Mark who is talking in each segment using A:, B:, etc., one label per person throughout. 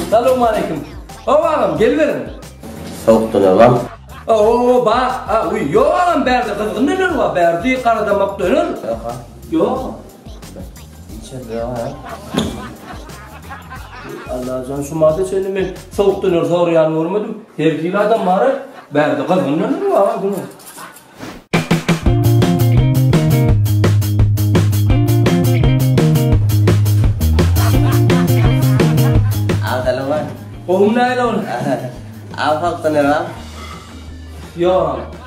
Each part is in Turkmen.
A: Salowmaleýkim. Ow agam, geliberiň. Sowukdan agam. Ow, ba, a, uý, ýok agam, bärde gyzgyn neler bar, bärde garadamak döner. Ýok. Allajan şu mada çenli men sowuk döner sorýan görmedim. Her hili adam bar-a. Bärde gyzgyn döner bar-a günüň. Agzalaman. Gowumy näle ony? Agzaltdym ýa. Ýok.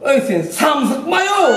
A: Öý sen samsyk maýow.